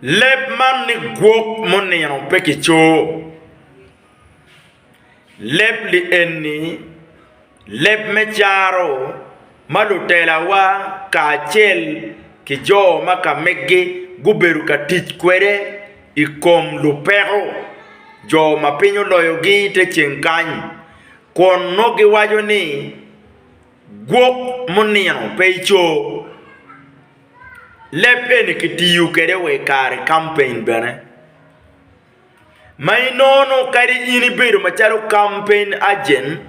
Leb man ni gwok munino pe kicoo. Leb li eni leb me caro ma lutelawa kacel ki jo ma ka megi gubedo ka tic kwede i kom lupeko jo ma piny oloyogi i te ceng kany kun nongo giwaco ni gwok munino pe icoo. Leb eni kitiyo kwede wa i kare kampen bene. Ma inono kadi in ibedo macalo kampen ajen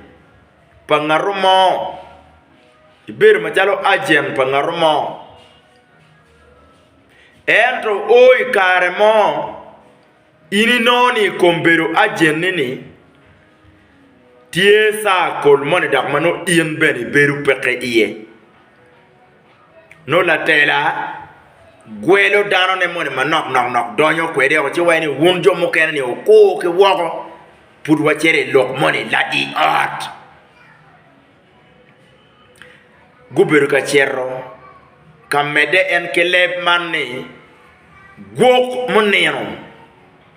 pa ngat mo, ibedo macalo ajen pa ngat mo ento o i kare mo In inongo ni i kom bedo ajenni ni tye circle moni dok ma nongo in bene ibedo peke iye. Nongo latela gwelo danone moni manok nok nok donyo kwede woko ci waco ni wun jo mukene ni wukur ki woko pud wacito i lok moni ladi ot. gubedo ka cito ka medde en ki leb man ni, Gwok munino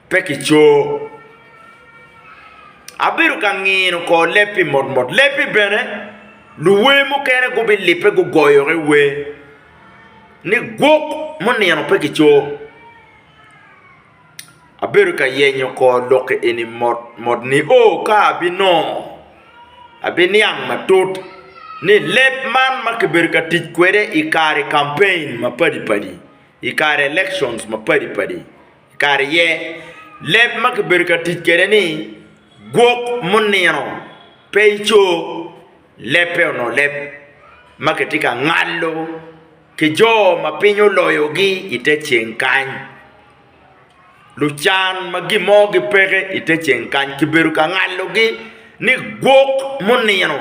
pe kicoo. Abedo ka ngino kor lebbi motmot, lebbi bene luwer mukene gubilibbe gugoyogi wer ni, Gwok munino pe kicoo. Abedo ka yenyo kor lokke eni mot mot nio ka abinongo abiniang matut ni leb man ma kibedo ka tic kwede i kare campaign mapadi padi i kare election mapadi padi kare aye leb ma kibedo ka tic kwede ni gwok munino pe ico, lebbe onongo leb ma kitye ka ngalo. ki jo ma piny oloyogi i te ceng kany, lucan ma gin mo gipeke i te ceng kany, kibedo ka ngalogi ni gwok munino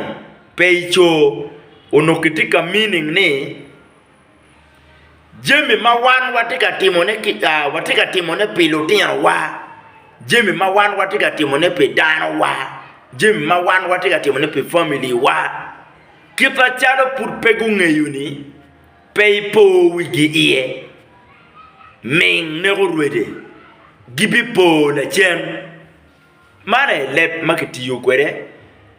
pe i coo, onongo kitye ka meaning ni jami ma wan watye ka timone kica watye ka timone pi lutinowa, jami ma wan watye ka timone pi danowa, jami ma wan watye ka timone pi family wa. Kit macalo pud pe gungeyoni, pe ipo wigi iye. Ming neko rwede, gibipo lacen. Man aye leb ma kitiyo kwede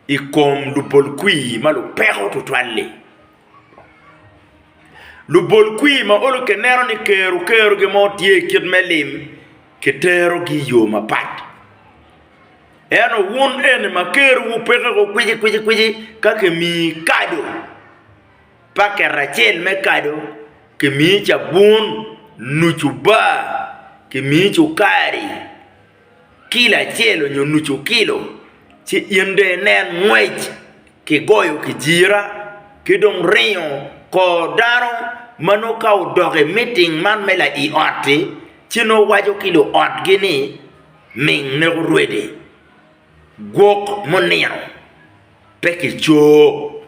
i kom lubolkwir ma lupeko tutwal-li. Lubolkwir ma olo kineno ni kero kero gin mo tye kit me lim, kiterogi i yo mapat. Ento wun eni ma kerowu peke ko kwicikwici ka kimiyi kado, paket acel me kado, kimiyi cabun, nucu bar, kimiyi cukari kilo acel onyo nucu kilo, ci in dong inen ngwec ki goyo kijira ki dong ringo kor dano ma nongo ka odok i miting man me lai ot-ti ci nongo waco ki luotgi ni. Ming ne orwedi gwok munino pe ki coo.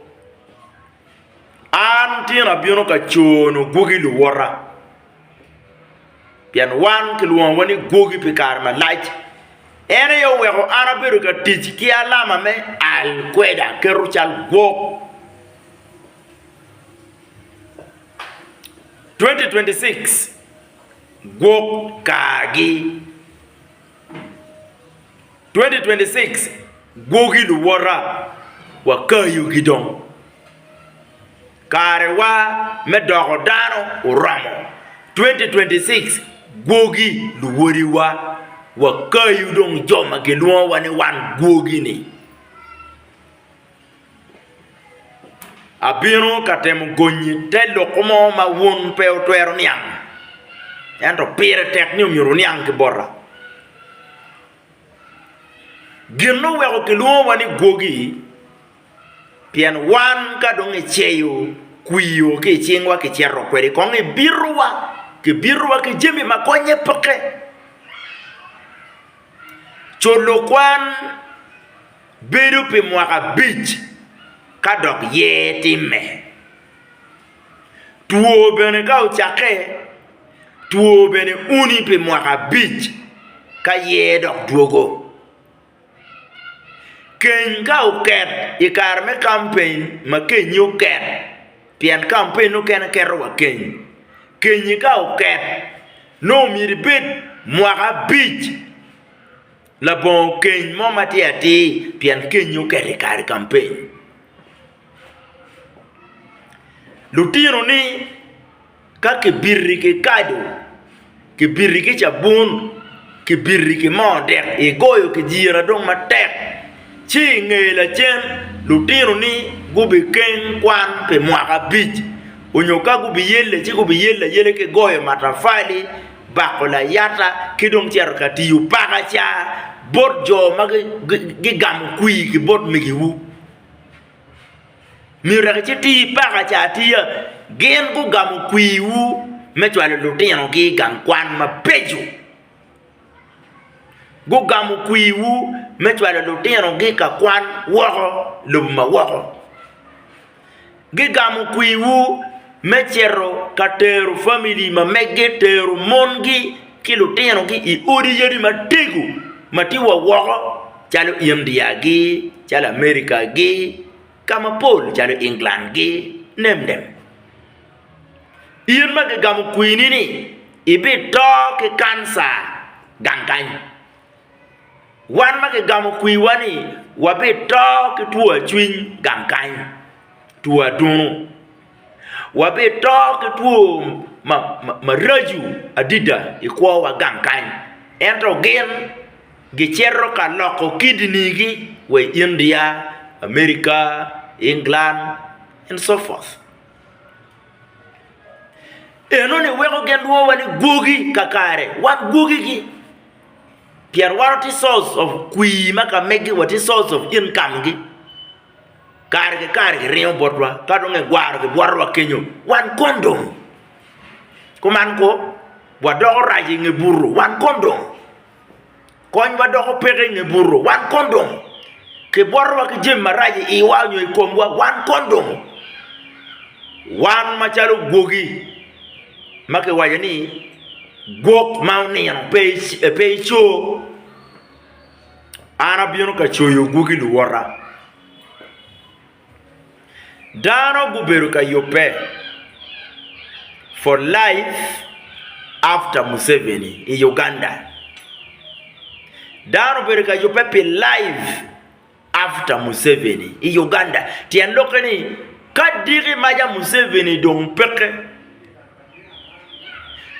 An tino abino ka coonu gwogi luwota, pien wan kilwongowa ni gwogi pi kare malac. En aye oweko an abedo ka tic ki alama me al kweda keto cal gwok. 2026. Gwok kargi. 2026 Gwogi luwota, wakayo gi dong. Karewa me doko dano oromo. 2026 Gwogi luwodiwa, wakayo dong jo ma gilwongowa ni wan gwogi-ni. Abino ka temo gonyi te lok mo ma wun pe wutwero niang, ento pire tek ni myero wuniang ki bota. Gin ma oweko kilwongowa ni gwogi, pien wan ka dong kiceyo kwio ki i cingwa kicito kwede kong i bitowa, kibitowa ki jami ma konye peke. Co lok kwan. Bedo pi mwaka abic ka dok yer timme. Two bene ka ocakke, two bene uni pi mwaka abic ka yer dok dwogo. Keny ka oket i kare me kampeny ma kenyi oket, pien kampeny nokene keto wa keny, kenyi ka oket nongo myero ibed mwaka abic Labongo keny mo matir atir pien kenyi oket i kare campaign. Lutino ni ka kibiti ki kado, kibiti ki cabun, kibiti ki moo dek igoyo kijira dong matek ci inge lacen lutino ni gubikeng kwan pi mwaka abic onyo ka gubiyelle ci gubiyelle ayela ki goyo matafali. bako layata ki dong cito ka tiyo pakaca bot jo ma gigamo kwir ki bot migiwu. Myero wek icit iti pakaca atiya, gin gugamo kwirwu me cwalo lutinogi i gang kwan mabeco, gugamo kwirwu me cwalo lutinogi ka kwan woko i lobo ma woko. gigamo kwiwu me cito ka tero famili ma meggi, tero mongi ki lutinogi i odi yadi matego ma tye wa woko calo India-gi, calo Amerika-gi, ka mapol calo England-gi, nemnem. In ma gigamo kwini-ni ibito ki kanca gang kany. Wan ma kigamo kwiwa ni wabito ki two acwiny gang kany, two adunu, wabito ki two maraco adida i kwowa gang kany, ento gin gicito ka loko kidneygi wa i India, America, England and so forth. Enoni weko gin lwowa ni gwogi kakare, wan gwogigi. Pien wan watye source of kwir ma ka mege wa tye source of income gi kare ki kare ki ringo bot wa ka dong ki gwaro ki bwoto wa kenyo wan kondong kuman ko wa doko rac i nge buto wan kondong kony wa doko peke i nge buto wan kondong ki bwoto wa ki jami marac i iwa nyo i kom wa wan kondong wan macalo gwogi ma kiwaco ni gwok ma onino pe ico, an abino ka coyo gwoki luwota. Dano gubedo ka yubbe for life after Museveni i Uganda, dano obedo ka yubbe pi life After Museveni i Uganda, tyen lokke ni ka diki maca Museveni dong peke,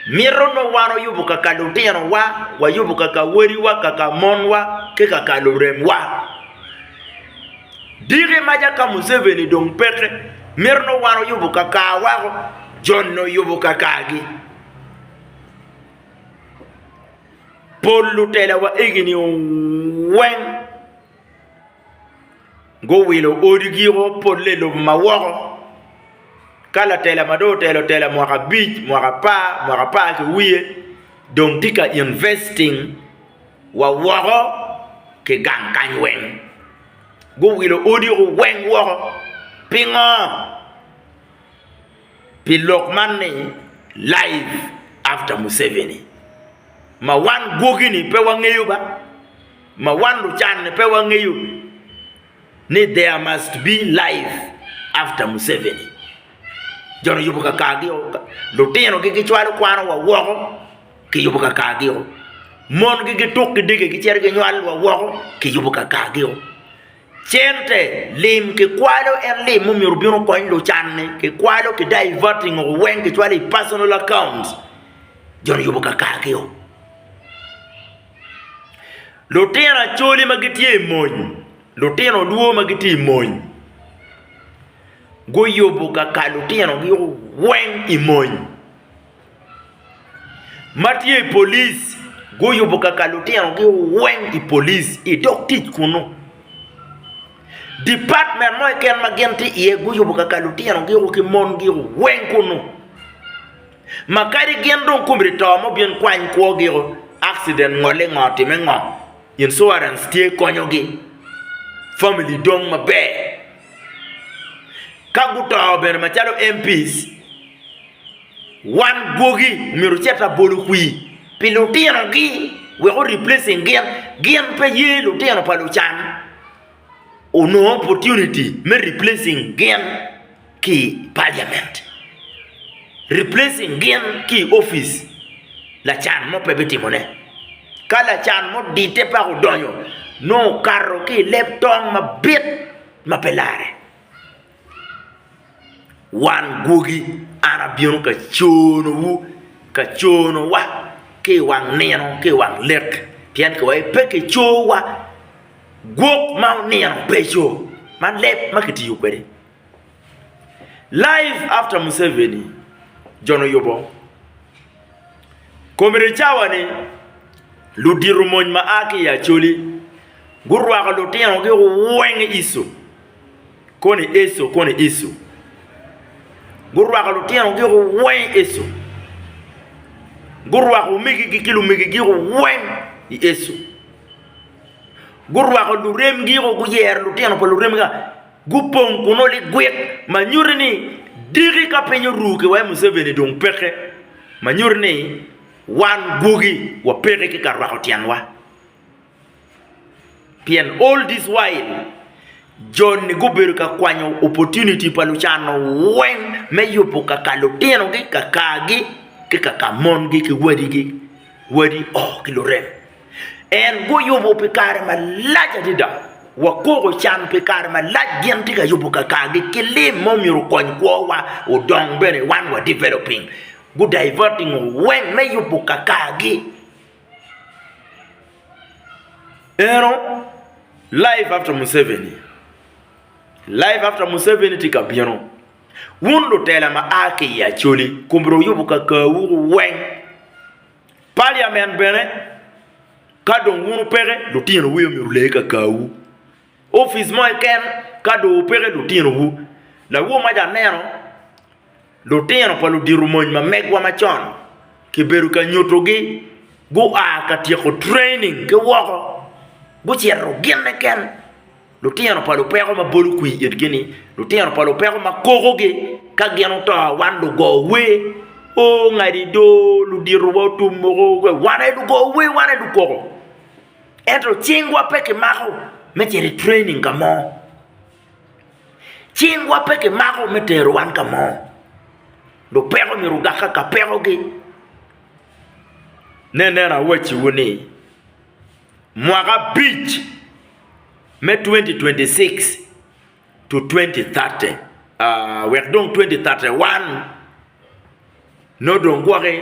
mito nongo wan oyubo kaka lutino wa, wayubo kaka wadi wa, kaka mon wa, ki kaka lurem wa. Diki maca ka Museveni dong peke, mito nongo wan oyubo kaka wako, joni oyubo kaka gi. Pol lutela wa egini weng guwilo odi gi o pole i lobo ma woko ka latela ma dong otelo tela mwaka abic mwaka apar mwaka apar ki wiye dong tye ka investing wa woko ki gang kany weng guwilo odi weng woko pingo? pi lok man ni Life After Museveni. Ma wan gwogi-ni pe wangeyo ba, ma wan lucan-ni pe wangeyo ni there must be life after Museveni. Jo-ni oyubo kakargio, lutinogi gicwalo kwanowa woko kiyubo kakargio, mongi gituk ki dege gicito ginywalowa woko kiyubo kakargio. Cente, Lim kikwalo en lim mumyero obin okony lucanne, kikwalo ki diverting o weng kicwalo i personal accounts joni yubo ka kargi o. Lutino Acholi ma gitye i mony, Lutino Luo ma gitye i mony guyubo ka kar lutinogi o weng i mony. ma tye i polic guyubo kaka lutinogi oweng i polic i dog tic kunnu. Dipatmen mo keken ma gin tye iye guyubo kaka lutinogi ki mongi oweng kunnu ma kadi gin dong kumgi to ma obin kwany kwogi akciden ngolle ngo otimme ngo, incuarens tye konyogi famili dong maber ka guto bene macalo MP. Wan gwogi omyero ocit labolo kwir pi lutinogi wek o replacing gin, gin pe ye lutino pa lucan onongo opportunity me replacing gin ki i parliament, replacing gin ki i office lacan mo pe bitimo ne, ka lacan mo odite paka odonyo nongo okato ki i leb tong mabit ma pe lare. Wan gwogi, an abino ka conowu, ka conowa ki i wang nino ki i wang lek, pien ka wape ki cowa, gwok ma onino beco, ma leb ma kitiyo kwede. Live after Museveni, Jon Oyubo, Comrade Cawa ni ludito mony ma a ki i Acholi gurwako lutinogi owenge iso. koni Eco koni Eco gurwako lutino gi weng Eco gurwako omegi gi ki lumegi gi weng i Eco gurwako lurem gi o guyero lutino pa lurem ga gupong kunu ligwit ma nyuti ni diki ka piny oru ki wai Museveni dong peke ma nyuti ni wan gwogi wa peke ki ka rwako tyen wa. Pien all this while, jo-ni gubedo ka kwanyo opportunity pa lucan-nu weng me yubo ka ka lutinogi, ka kargi, ki ka ka mongi ki wadigi, wadi oo ki lurem. En guyubo pi kare malac adada, wakoko can pi kare malac gin tye ka yubo ka kargi ki lim ma omyero okony kwowa odong bene wan wa developing. Gu diverting-o weng me yubo ka kargi. Eno life after Museveni, life after Museveni tye ka bino. Wun lutela ma a ki i Acholi koburu wuyubu kakawu weng. Parliament bene ka dong wun peke lutinowu aye myero olee kakawu. Opic mo keken ka dong peke lutinowu lawomaci aneno. Lutino pa ludito mony ma megwa macon kibedo ka nyutogi gua ka tyeko training ki woko gucito gin keken. Lutino pa lupeko ma bolo kwir itgi-ni, lutino pa lupeko ma kokogi ka gin oto wan lugo wer, Oh ngadi do, luditowa otum woko, wan aye lugo wer, wan aye lukoko. Ento cingwa pe kimako me cito i training ka mo. Cingwa pe kimako me tero wan ka mo. Lupeko myero ogak ka ka pekogi. Nen nen awacciwu ni, mwaka abic me 2026-2030 wek dong 2031 nongo dong gwoki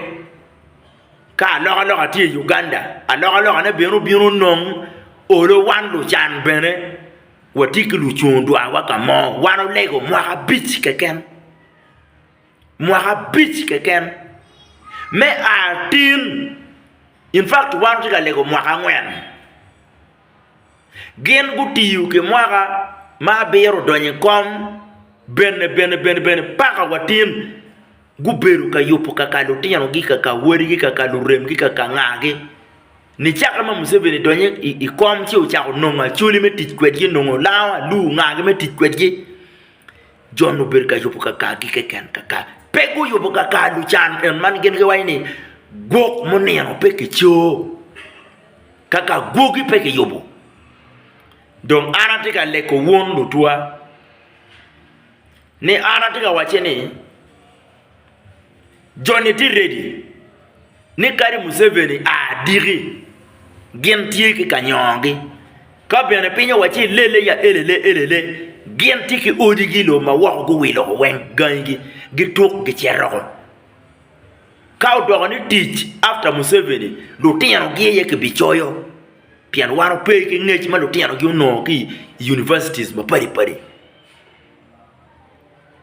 ka alokaloka tye i Uganda, alokalokane bene obino nongo olo wan lucan bene Watye ki lucung dwarwa ka mo, wan olego mwaka abic keken, mwaka abic keken me a tin, in fact wan watye ka lego mwaka angwen. Gin gutiyo ki mwaka ma abiro odonyo i kom bene bene bene bene paka wa tin. Gubedo ka yubo kaka lutinogi, kaka wadigi, kaka luremgi, kaka ngagi. Nicaka ma Museveni donyo i kom ci ocako nongo Acholi me tic kwedgi, nongo Lawa, Alur, ngagi me tic kwedgi. Jon obedo ka yubo kakagi keken, kaka pe guyubo kaka lucan en man gin giwaco ni gwok munino pe kicoo, kaka gwogi pe kiyubo. Dong an atye ka leko wun lutwa. Ni an atye ka wacce ni joni tye ready ni kadi Museveni a diki gin tye ki kanyongogi ka bene piny owacce ilele ya elele elele gin tye ki odigi iloo ma woko guwilo woko weng gangi gi gituk gicetoko ka odoko ni tic after Museveni lutino gi aye kibicoyo pien wan wape ki ngec ma lutino gi onongo ki i Universities mapadi padi.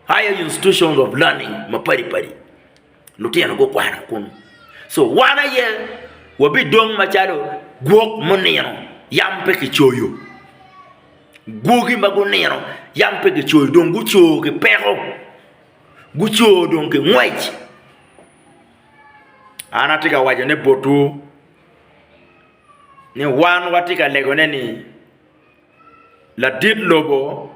higher institutions of learning mapadi padi lutino gukwano kunu so wan aye wabidong macalo gwok munino yam pe kicoyo, gwoki ma gunino yam pe kicoyo dong guco ki peko, guco dong ki ngwec an atye ka waco ne botwu ni wan watye ka legone ni. Ladit lobo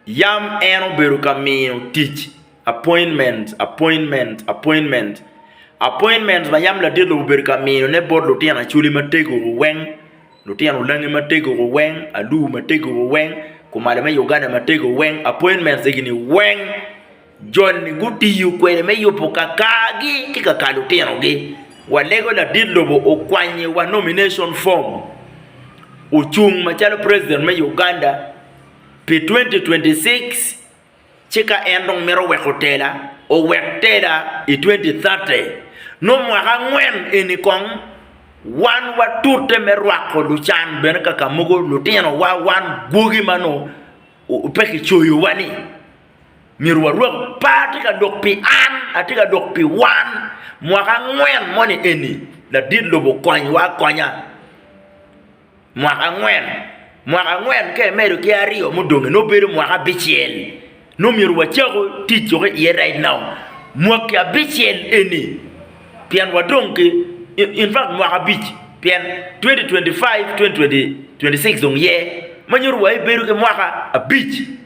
yam en obedo ka miyo tic appointment, appointment, appointment, appointment ma yam ladit lobo obedo ka miyo ne bot lutino Acholi matego weng, lutino Olangi matego weng, Alur matego weng, Kumalo me Uganda matego weng, appointment egi ni weng. Joni gutiyo kwede me yubo kakargi ki kakar lutinogi. Walego ladit lobo okwanyo wa nomination form ocung macalo president me Uganda pi 2026 ci ka en dong mito weko tela owek tela i 2030 nongo mwaka angwen eni kong wan watute me rwako lucan bene kakamogo lutinowa wan gwogi ma nongo pe kicoyowa-ni. myero warwak par atye ka dok pi an, atye ka dok pi wan, mwaka angwen moni eni ladit lobo konywa akonya, mwaka angwen, mwaka angwen ka imedo ki aryo mudong nongo bedo mwaka abicel nongo myero wacak tic cok iye right now, mwaki abicel eni pien wadong ki infact mwaka abic pien twenti twenti five, twenti twenti six dong ye ma nyuto wa ibedo ki mwaka abic.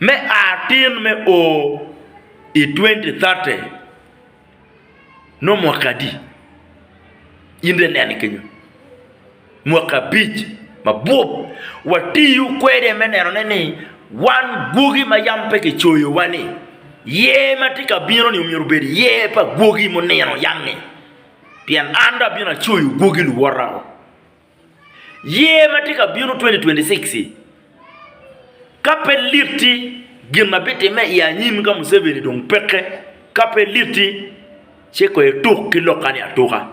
me a tin me o i 2030 nongo mwaki adi? In dong inene kenyo, mwaki abic ma bup. Watiyo kwede me nenone ni wan gwoki ma yam pe kicoyowa-ni, yer ma tye ka bino-ni myero obed yer pa gwoki munino yam-mi, pien an dong abino acoyo gwoki luwota woko. Year ma tye ka bino 2026-ci, ka pe litti gin ma bitimme i anyim ka Museveni dong peke, ka pe litti ci kong ituk ki lokka-ni atuka.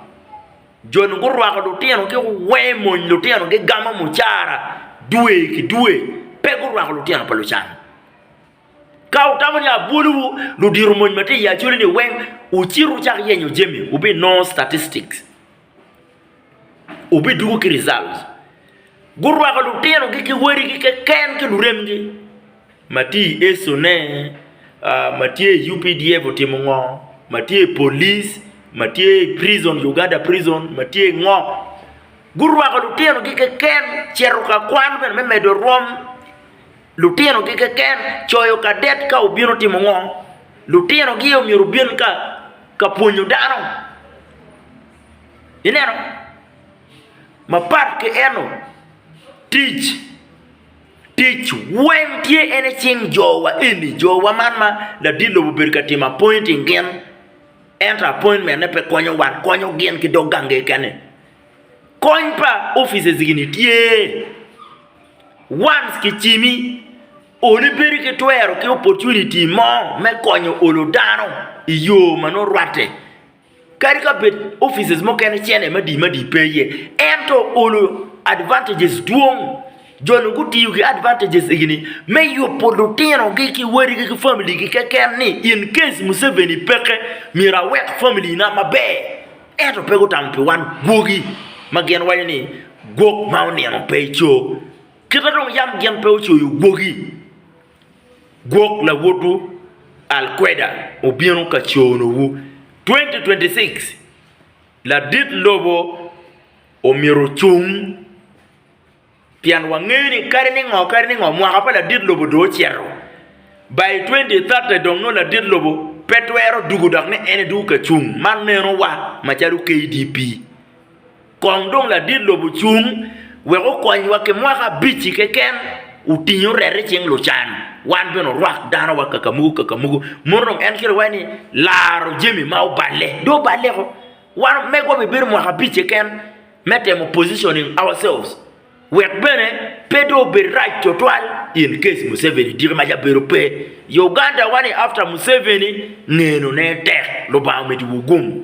Jo-ni gurwako lutino ki wee mony, lutino gigamo mucara dwe ki dwe, pe gurwako lutino pa lucan. Ka wutamo ni abwolowu, ludito mony ma tye i acolini weng, wucit wucak yenyo jami, wubinongo statistics. Wubidwogo ki results. Gurwako lutinogi ki wadigi keken ki luremgi. Ma tye i Esso ne, ma tye i UPDF otimo ngo, ma tye i police, ma tye i prison, Uganda prison, ma tye ngo. Gurwako lutinogi keken cito ka kwan bene me medo rwom. Lutinogi keken coyo kadet ka obino timo ngo? Lutinogi omyero obin ka ka pwonyo dano. Ineno? Mapat ki eno, tic, tic weng tye en i cing jowa eni, jowa man ma ladit lobo obedo ka timo appointing gin, ento appointment-ne pe konyo wan, konyo gin ki dog gangi keken-ni. Kony pa offices gini tye once ki cimi onongo ibedo ki twero ki opportunity mo me konyo olo dano i yo ma nongo rwatte kadi ka bed offices mukene cente madi madi pe iye ento olo advantages dwong jo ni gutiyo ki advantages egini me yubo lutinogi ki wadigi ki family gi keken ni in case Museveni peke myero awek family na maber. Ento pe gutamo pi wan gwogi, ma gin waco ni, 'Gwok ma onino pe ico, kita dong yam gin pe ocoyo gwogi. Gwok lawotwu Al-Queda obino ka conowu. 2026, Ladit lobo omyero ocung. Pien wangeyo ni kadi ni ngo kadi ni ngo mwaka pa ladit lobo dong ocito. By 2030 dong nongo ladit lobo pe twero dugu dok ni en edugu ka cung. Man neno wa macalo KDP. Kong dong ladit lobo cung wek okony wa ki mwaka abic i keken otinge oret i cing lucan wan bene orwak dano wa kakamuku kakamuku. Mono dong en kiro iwaci ni laro jami ma oballe dong oballe ko. Wan megwa obi bedo mwaka abic keken. me temo positioning ourselves wek bene pe dong obed rac twatwal in case Museveni tiki ma ca bedo pe. Uganda wa ni after Museveni ngeno ne tek, Lubanga omitiwu gumm.